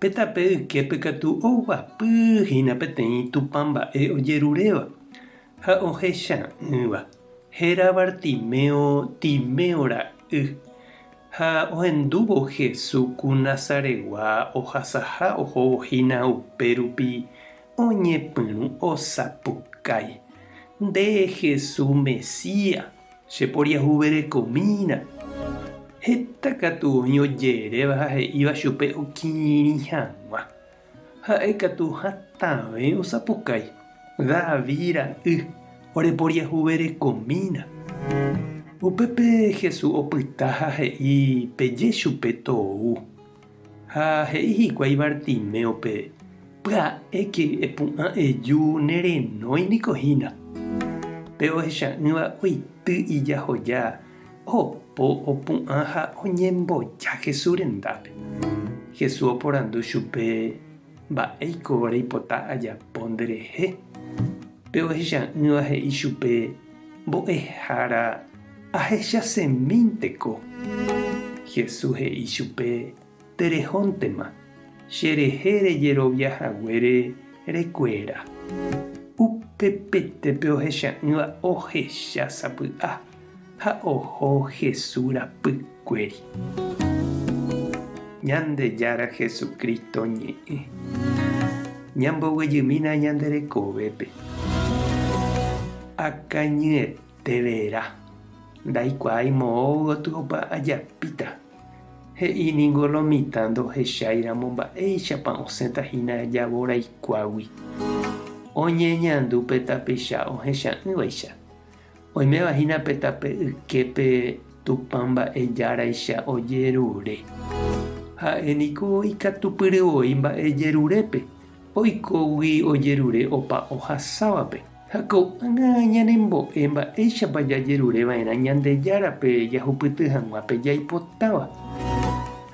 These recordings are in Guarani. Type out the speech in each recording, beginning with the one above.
Pe tape yképe katu oguapy hína peteĩ Tupã mba'e ojeruréva ha ohecha'ỹva, héra Bartimeo Timeo ra'y, ha ohendúvo Hesu ku Nazaregua ohasaha ohóvo hína upérupi oñepyrũ osapukái, Nde Hesu Mesía! Cheporiahuverekomína. Heta katu oĩ oje'eréva ha he'íva chupe okirirĩ hag̃ua. Ha'e katu hatãve osapukái, David ra'y, oreporiahuverekomína. Upépe Jesús opyta ha he'i peje chupe tou. Ha he'i hikuái Bartiméope, Pya'éke, epu'ã eju, nerenói niko hína. Pe ohecha'ỹva oity ijahoja, opo, opu'ã ha oñemboja Jesús rendápe. Jesús oporandu chupe. Mba'éiko reipota ajapo nderehe? Pe ohecha'ỹva he'i chupe, Mbo'ehára, ahechasẽmínteko. Jesús he'i chupe, Terehóntema, cherehe rejerovia haguére rekuéra. Upepete pe ohecha'ỹva ohecha sapy'a. ha oho Jesús rapy kuéri. Ñandejára Jesucristo ñe'ẽ. Ñamboguejymína ñande rekovépe. Akañyeteverã. Ndaikuaái moõ gotyo opa ajapíta. He'i ningo lo mitã ndohechái ramo mba'éichapa osẽta hína javo raikuágui. Oñeñandu pe tapicha ohecha'ỹvaicha. Oiméva hína pe tape yképe Tupã mba'e járaicha ojerure. Ha'e niko ikatupyry voi mba'e jerurépe, oikógui ojerure opa ohasávape. Ha ko'ág̃a ñanembo'e mba'éichapa jajerure va'erã Ñandejárape jahupyty hag̃ua pe jaipotáva.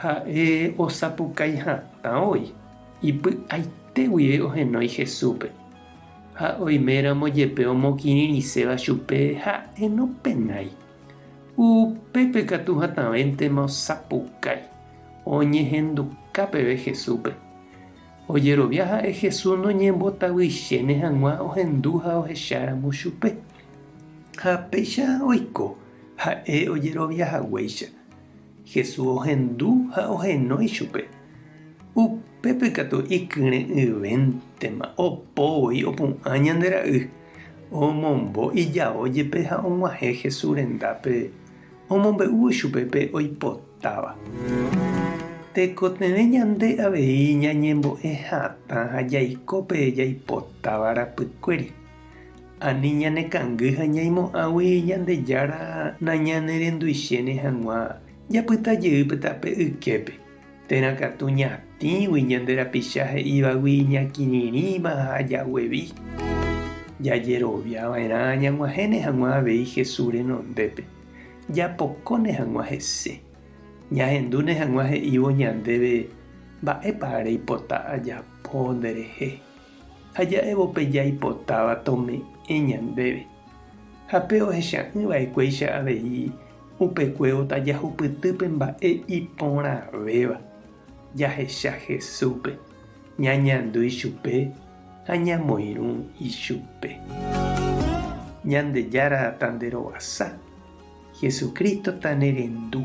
Ha'e osapukái hatã voi, ipy'aite guive ohenói Jesúspe. Ha oiméramo jepe omokirirĩséva chupe ha'e nopenái, upépe katu hatãvéntema osapukái, oñehenduka peve Jesúspe. Ojerovia ha'e Jesús noñembotavýichéne hag̃ua ohendu ha ohecháramo chupe. Ha péicha oiko ha'e ojerovia haguéicha. Jesús ohendu ha ohenói ichupe. Upépe katu ikyre'ỹvéntema opo voi opu'ã ñande ra'y, omombo ijao jepe ha og̃uahẽ Jesús rendápe omombe'úvo chupe pe oipotáva. Tekotevẽ ñande avei ñañembo'e hatã ha jaiko pe jaipotáva rapykuéri. Ani ñanekangy ha ñaimo'ãgui Ñandejára nañanerenduichéne hag̃ua japyta jeýpe tape yképe, térã katu ñatĩgui ñande rapicha he'ívagui iñakirirĩva ha jaguevi. Jajerovia va'erã ñag̃uahẽne hag̃ua avei Jesús renondépe, japokóne hag̃ua hese, ñahendúne hag̃ua he'ívo ñandéve mba'épa reipota ajapo nderehe. ha ja'évo pe jaipotáva tome'ẽ ñandéve, ha pe ohecha'ỹ vaekuéicha avei upe kuévota jahupyty pe mba'e iporãvéva, jahecha Jesúspe, ñañandu ichupe ha ñamoirũ ichupe. Ñandejára tanderovasa, Jesucristo tanerendu.